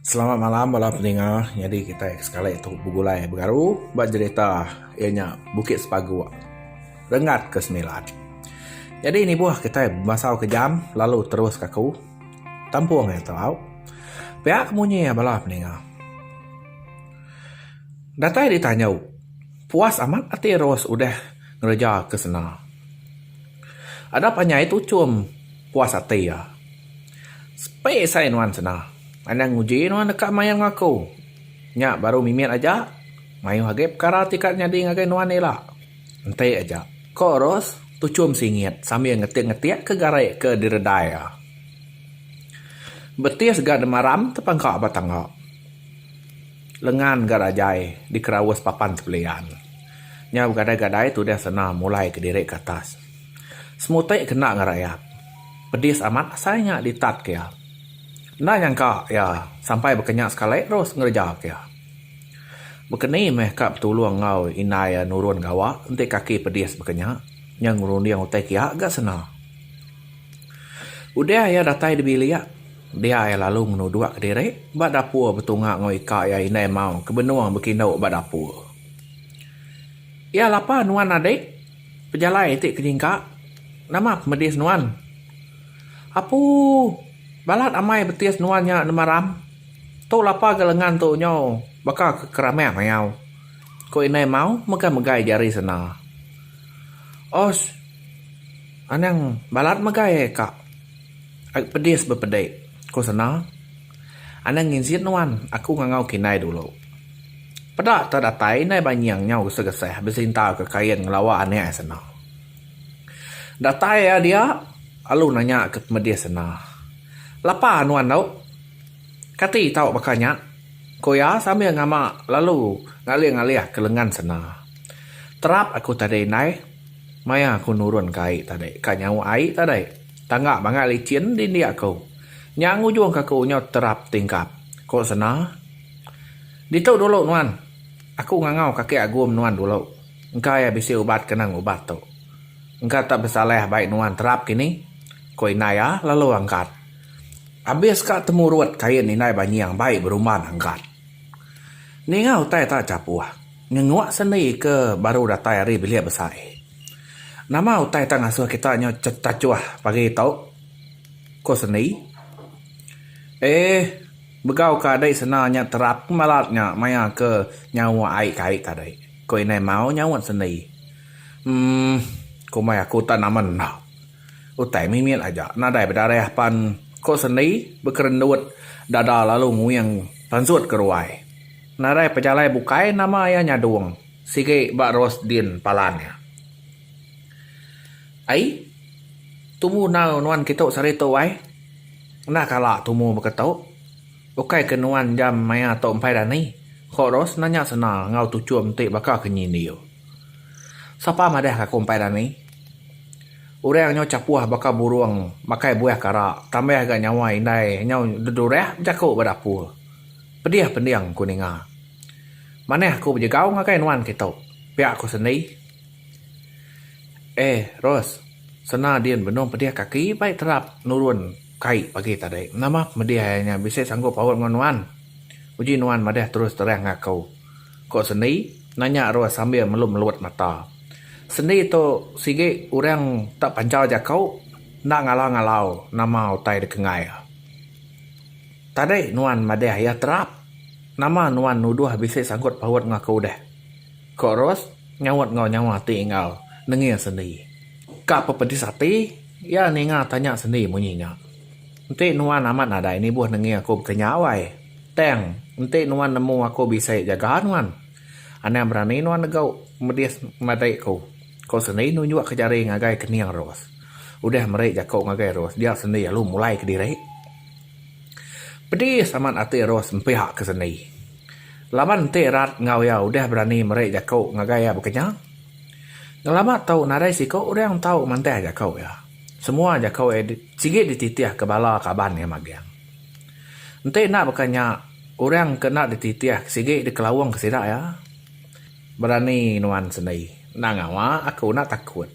Selamat malam bala peninga. Nyadi kitai sekali tu begulai begaru ba jerita iya nya Bukit Sepagok Rengat ke Semilan. Nyadi nibuh kitai bemasau ke jam lalu terus kaku tampung iya tau. Pia ke munyi iya bala peninga. Datai ditanyu, puas amat ati Ros udah ngereja ke sena. Ada panjai tu chum puas ati iya. Space ai nuan sena. Anang uji nuan deka mayar enggau aku. Nya baru mimit aja. Mayuh agi pekara ti ka nyadi ngagai nuan ila. Enti aja. Ko Ros tuchum singit sambil ngetik-ngetik ke gari ke diredai iya. Betis ga demaram tepangka ba tangga. Lengan ga rajai dikeraus papan tepelian. Nya begadai-gadai tudah sena mulai kediri ke atas. Semuti kena ngarayap. Pedis amat asai nya ditat ke iya. Enda nyangka iya sampai baka nya sekali terus ngereja ke iya. Baka ni meh ka betulung enggau indai iya nurun gawa enti kaki pedis baka nya, nya ngerunding utai kia ga sena. Udah iya datai dibilik, dia iya lalu ngenuduk ke diri ba dapur betunga enggau ika iya indai mau ke benung bekindu ba dapur. Iya lapa nuan adik. Pejalai ti kenyingka, nama pemedis nuan? Apu, balat amai betis nuan nya nemaram. Tu lapa ga lengan tu nyau baka ke keramek mayau, ku indai Mau megai-megai jari senda. Osh, anang balat megai ai ka. Ai pedis bepedi, ku senda. Anang nginzit nuan, aku ngangau kinai dulu. Peda tah datai indai ba nying nyau gesah-gesah besinta ke kain ngelawa anak iya sena. Datai iya dia lalu nanya ke pemedis sena, Lapa nuan tu? Kati tau baka nya? ku iya sambil ngama lalu ngalih-ngalih ke lengan sena. Terap aku tadi indai, maya aku nurun ka ai tadi, ka nyau ai tadi. Tangga bangat licin dindi aku. Nya ngujung ke aku nyau terap tingkap, ko Sena. Ditu dulu nuan. Aku ngangau kaki agum nuan dulu. Engka iya bisi ubat ke nang ubat tu. Engka tak besalah bai nuan terap kini, ko indai iya lalu angkat. Abis ka temurut kain indai banying bai berumban angkat. Ninga utai tak chapuh, ngenguk sendi ke baru datai ari bilik besai. Nama utai ita ngasuh kita nyu tachuh pagi tu? Ku Sendi. Eeh, begau ka dei sena nya terap ke malat nya maya ke nyawa ai kai tadi, ku Indai Mau nyaut Sendi. Umm, kombai aku utai nama enda. Utai mimit aja nadai bedarah pan, ku Sendi bekerendut dada lalu nguing pansut ke ruai. Nadai pejalai bukai nama iya nyadung. Sigi ba Rosdin palan iya. Ai, tumu enggau nuan kitu sehari tu ai. Enda kala tumu baka tu. Ukai ke nuan jam maya tu empai dani, ko Ros nanya sena enggau Tuchum ti baka ke nyidiu. Sapa madahka aku empai dani? Orang nyau chapuh baka burung makai buah kara tambah ga nyawa indai nyau dedurah bejaku ba dapur. Pedih pending ku ninga. Manah aku bejegau ngagai nuan kitu, pia aku sendiri. Eh, Ros, sena din benung pedih kaki bai terap nurun kai pagi tadi. Nama pemedih iya nya bisi sanggup paut enggau nuan? Uji nuan madah terus terang enggau aku, ku Sendi nanya Ros sambil melut-melut mata. Sendi tu sigi orang tak panjau jaku, enda ngalau-ngalau nama utai dikenggai iya. Tadi nuan madah iya terap. Nama nuan nuduh bisi sangkut paut enggau aku deh? Ko Ros nyaut enggau nyawa ti enggau nengih sendi. Ka apa pedis ati iya ninga tanya sendi munyi nya. Enti nuan amat nadai nibuh nengih aku bekenyau ai, tang enti nuan nemu aku bisi jaga nuan. Anang berani nuan negau medis madik ku, ko sendi nunjuk ke jari ngagai kening Ros. Udah meri jaku ngagai Ros dia sendi alu mulai kediri. Pedis amat ati Ros empiak ke seni. Laban enti rat enggau iya udah berani meri jaku ngagai iya bekenya, ngelama tu nadai siku orang tau mantah jaku iya. Semua jaku iya sigi dititih ke bala kaban iya magang. Enti enda baka nya, orang ke enda dititih sigi dikelaung ke sida iya. Berani nuan seni. Enda ngawa aku enda takut.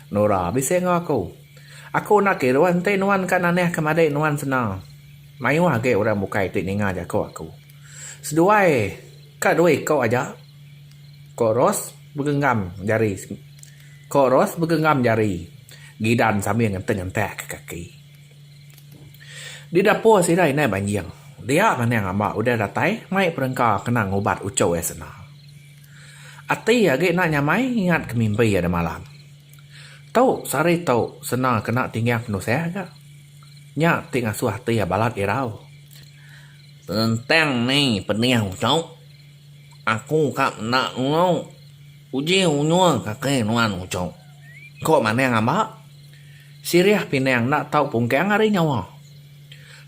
Nora bisi enggau aku. Aku enda ke irau enti nuan ka nanih ke madik nuan sena. Mayuh agi orang bukai ti ninga jaku aku. Seduai ka dua iko aja. Ko Ros begenggam jari ko Ros begenggam jari gidan sambil ngentek-ngentek ke kaki. Di dapur sida indai banjing. Dia manang amba udah datai mai perengka kena ngubat uchu iya sena. Ati agi enda nyamai ingat ke mimpi iya demalam. Tau sari tu senang kena tinggal penusah ga. Nya ti ngasuh ati iya balat irau. Tentang ni pedih tu, aku ka meda enggau uji unyung kaki nuan uchu, ku Manang Amba sirih pinang enda tau pungkang ari nyawa.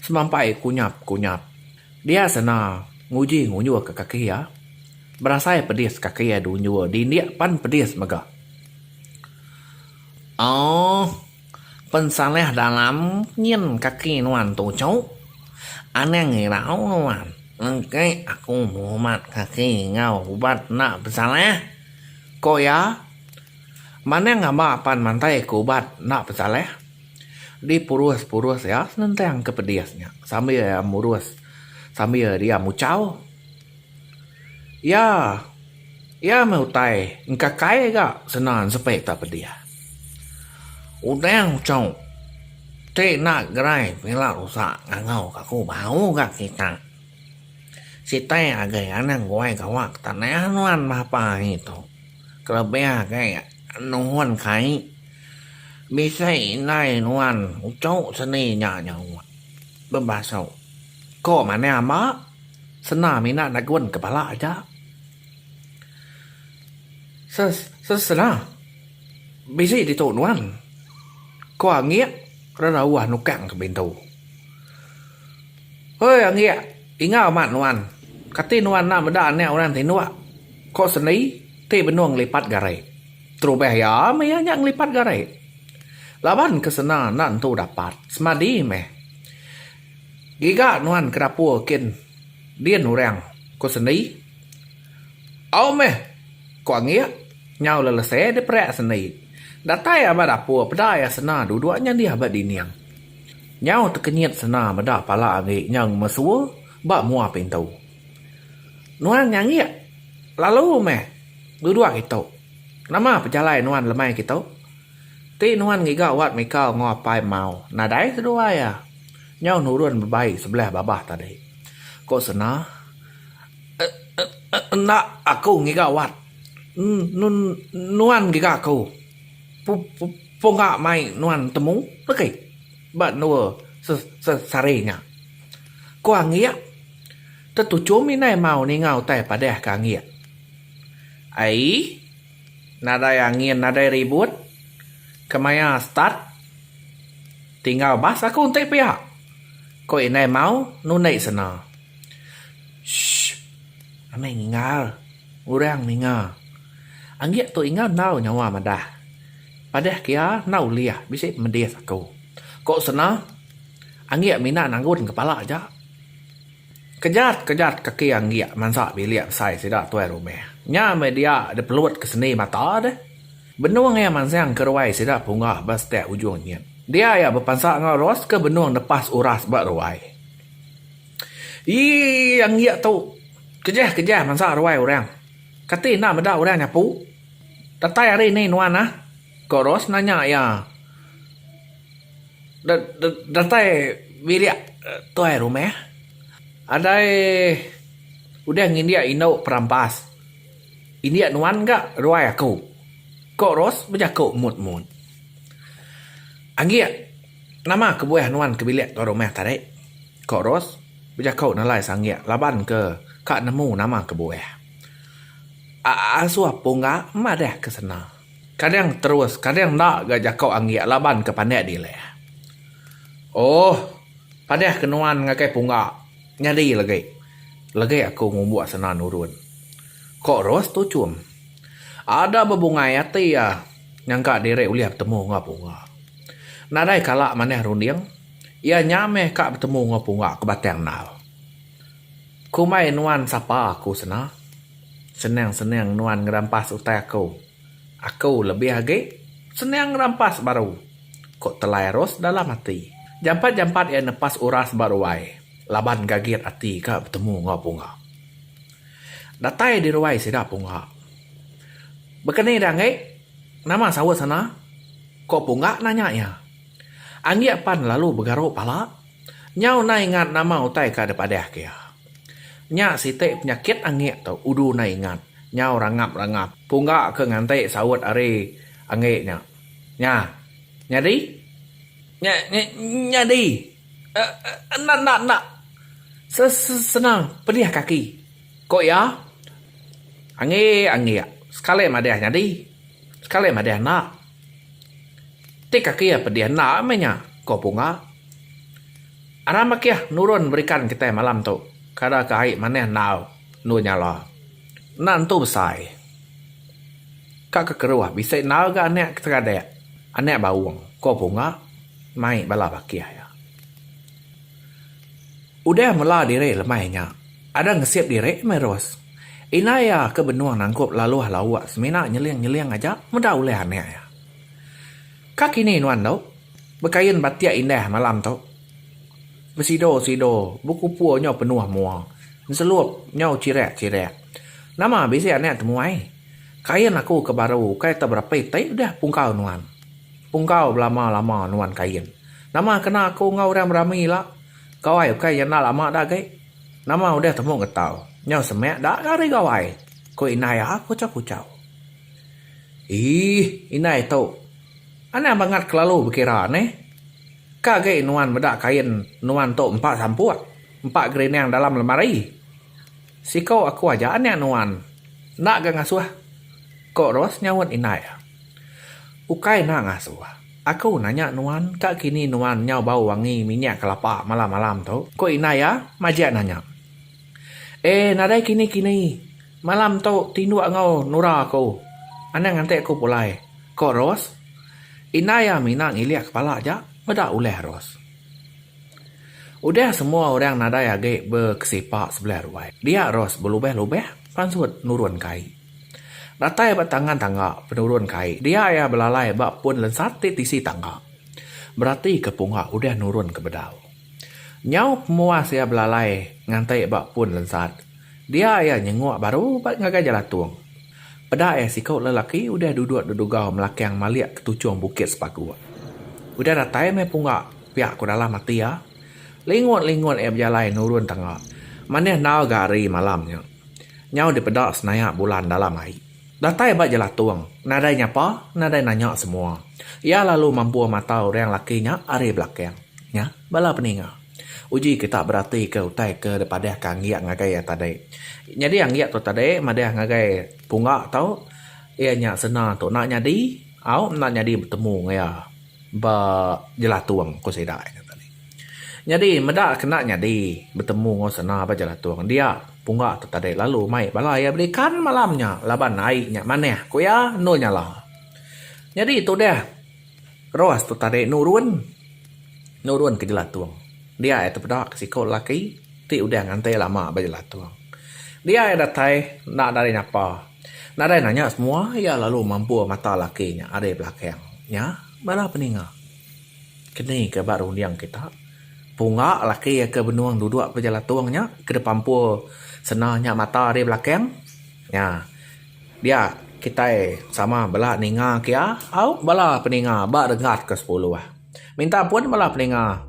Semampai kunyap-kunyap dia sena nguji-ngunjurka kaki iya, berasai pedis kaki iya diunjur dindik pan pedis mega. Ooh pensaleh dalam nyin kaki nuan tu cuk anang irau nuan engke aku ngumat kaki enggau ubat enda pensaleh ko iya manah ngaba pan mantai ko ubat enda pensaleh dipurus purus iya senentang ke pedis nya sambil iya murus sambil iya muchau. Iya. Iya meh utai engka kai ga senan sepe ta pedih. Udang uchok ti enda gerai pila rusa ngangau ka aku bau ga kita. Sitai agei anang guai gawa ke tanah nuan meh apa hari tu. Kelebih agei nuhun kai bisi indai nuan uchok seni nya nyau bebasok. Ko manah ama, sena mina nagun ke bala aja. Se se sena bisi ditu nuan, ko Anggik rerauh nukang ke pintu. Hoi Anggik, ingau amat nuan, kati nuan enda meda anak orang tinduk, ko Sendi ti benung ngelipat gare. Terubah iya meh iya nya ngelipat gare. Laban ke sena enda entu dapat, semadi meh. Giga nuan ke dapur kin din orang, ku Seni. Au meh, ku Anggik nyau lelese diperak Seni. Datai ia ba dapur peda ia Sena duduk nyadih ba dinding. Nyau tekenyit Sena meda pala Anggik nyau ngemesua ba mua pintu. Nuan nya Anggik, lalu meh duduk kitu. Nama pejalai nuan lemai kitu? Ti nuan ngiga wat mika enggau apai mau nadai seduai ah nyau nurun bebai sebelah babah tadi ko sena enda aku ngiga wat nuan ngiga aku punga mai nuan temu legi ba endur sesari nya ko anggik tetuchum indai mau ninga utai padah ka anggik ai. Nadai angin nadai ribut kemaya start tinggal bas aku enti pia ko indai mau nundi sena shh amai ninggal orang ninga anggik tu inga ndau nyawa madah padah kia enda ulih bisi pemedis aku ko sena anggik mina nanggun kepala aja. Kejat kejat kaki anggik mansa bilik besai sida tuai rumah. Nya meh dia dipelut ke seni mata deh. Benung iya mansang ke ruai sida punggah ba setek ujung nyit. Dia iya bepansa enggau Ros ke benung nepas uras ba ruai. Yii anggik tu kejah kejah mansa ruai orang. Kati enda meda orang nyapu. Datai hari ni nuan ah? ko Ros nanya iya. Datai bilik tuai rumah adai udah ngindik indu perampas indik nuan ga ruai aku ko ros bejaku mut mut anggik nama kebuah nuan ke bilik tuai rumah tadi ko ros bejaku nalai sanggik laban ke ka nemu nama kebuah aasuh pun ga madah ke sena. Kadang terus kadang enda ga jako anggik laban ke pandak dilah. Ohh padah ke nuan ngagai pungga nyadi legi legi aku ngumbuk sena nurun. Ko Ros tuchum. Ada bebungai ati iya nyangka diri ulih betemu enggau pungga. Nadai kala manah runding iya nya meh ka betemu enggau pungga ke Batang Enal. Kumbai nuan sapa aku sena. Senang-senang nuan ngerampas utai aku. Aku lebih agi senang ngerampas baru, ku Telai Ros dalam ati. Jampat-jampat iya nepas uras ba ruai laban gagit ati ka betemu enggau Punga. Datai di ruai sida Punga. Bekeni Danggi, nama saut sena? ku Punga nanya iya. Anggik pan lalu begaru pala. Nyau nai ingat nama utai ka dep adah ke iya. Nya siti penyakit anggik tu udu nai ingat. Nyau rangap rangap pungga ke nganti saut ari anggik nya. Nya. Nyadi? Nya nyadi. Enda enda enda. Se se senang pedih kaki. Ko iya. Anggik anggik sekali madah nyadi. Sekali madah enda. Ti kaki iya pedih enda meh nya, ko Punga. Aram bakih nurun berikan kitai malam tu, kada ke ai manah enggau endur nyala. Enda nentu besai. Ka ke keruh bisi enggau ga anak ke seradak, anak baung, ko Punga mai bala bakih iya. Udah mela diri lemai nya, ada ngesip diri meh Ros. Indai iya ke benung nangkup laluh lauk semina nyeling-nyeling aja meda ulih anak iya. Ka kini nuan tu? Bekain batik indah malam tu. Besido-sido, bekupu nyau penuh mua. Nselup nyau chirak-chirak. Nama bisi anak temuai? Kain aku ke baru ukai tau berapai ti udah pungkau nuan. Pungkau belama-lama nuan kain. Nama kena aku enggau orang berami ila? Gawai ukai nyenda lama da agi. Nama udah temu getau. Nyau semak da ga ari gawai? ku indai iya kuchau-kuchau. Eeh, indai tu. Anang bangat kelalu bekira neh. Ka agi nuan meda kain nuan tu empa sampuk, empa gerinang dalam lemari. Siku aku aja anak nuan. Enda ga ngasuh, ku Ros nyaut indai iya. Ukai enda ngasuh. Aku nanya nuan ka kini nuan nyau bau wangi minyak kelapa malam-malam tu? ku indai iya majak nanya. Eh nadai kini-kini. Malam tu tinduk enggau Nora aku. Anang ante aku pulai, ku Ros. Indai iya mina ngilik kepala aja meda ulih Ros. Udah semua orang nadai agi bekesipak sebelah ruai. Dia Ros belubah-lubah pansut nurunka ai. Datai ba tangan tangga penurun kai dia iya belalai ba pun lensat ti tisi tangga berati ke punga udah nurun ke bedau. Nyau pemuas iya belalai nganti ba pun lensat dia iya nyenguk baru ba ngagai jalatung. Peda iya siku lelaki udah duduk dedugau melakang malik ke tuchung bukit sepaguk. Udah datai meh punga pia ku dalam ati iya. Lingut-lingut iya bejalai nurun tangga manih enggau ga ari malam nya. Nyau dipeda senayak bulan dalam ari. Datai ba jelatung, nadai nyapa, nadai nanya semua. Iya lalu mampur mata orang laki nya ari belakang. Nya, bala peninga. Uji kita beratika utai ke dipadahka Anggik ngagai iya tadi. Nyadi Anggik tu tadi madah ngagai Pungga tu iya nya sena tu enda nyadi au enda nyadi betemu enggau iya. Ba Jelatung ko sida iya kata ni. Nyadi meda kena nyadi betemu enggau sena ba Jelatung dia pungga tu tadi lalu mai bala iya beli ikan malam nya laban ai nya manah ko iya endur nyala. Nyadi tudah Ros tu tadi nurun nurun ke Jelatung dia iya tepeda ke siko lelaki ti udah nganti lama ba Jelatung. Dia iya datai enda nyapa. Nadai nanya semua iya lalu mampur mata laki nya ari belakang. Nya bala peninga. Keni ke ba runding kita, punga laki ke benung duduk ba jelatung nya ke dipampur sena nya mata ari belakang. Nya dia kitai sama bala ninga ke iya au bala peninga ba regat ke sepuluh. Minta ampun bala peninga.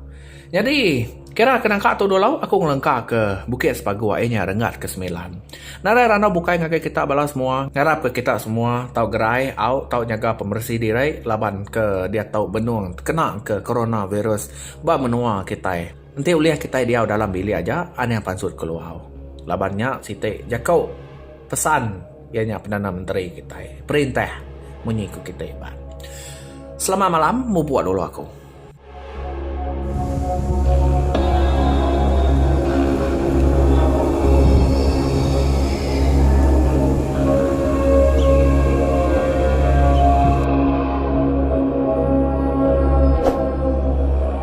Nyadi, kira ke nangka tu dulu aku ngelengka ke Bukit Sepagu ai nya renggat ke semilan. Narai randau bukai ngagai kita bala semua, ngarap ke kita semua tau gerai au tau nyaga pemeresi diri laban ke diatu benung tekena ke Coronavirus ba menua kitai. Enti ulih kitai diau dalam bilik aja anih pansut keluar laban nya siti jaku pesan iya nya Perdana Menteri kitai perintah munyi ku kitai ba. Selamat malam mubuk dulu aku.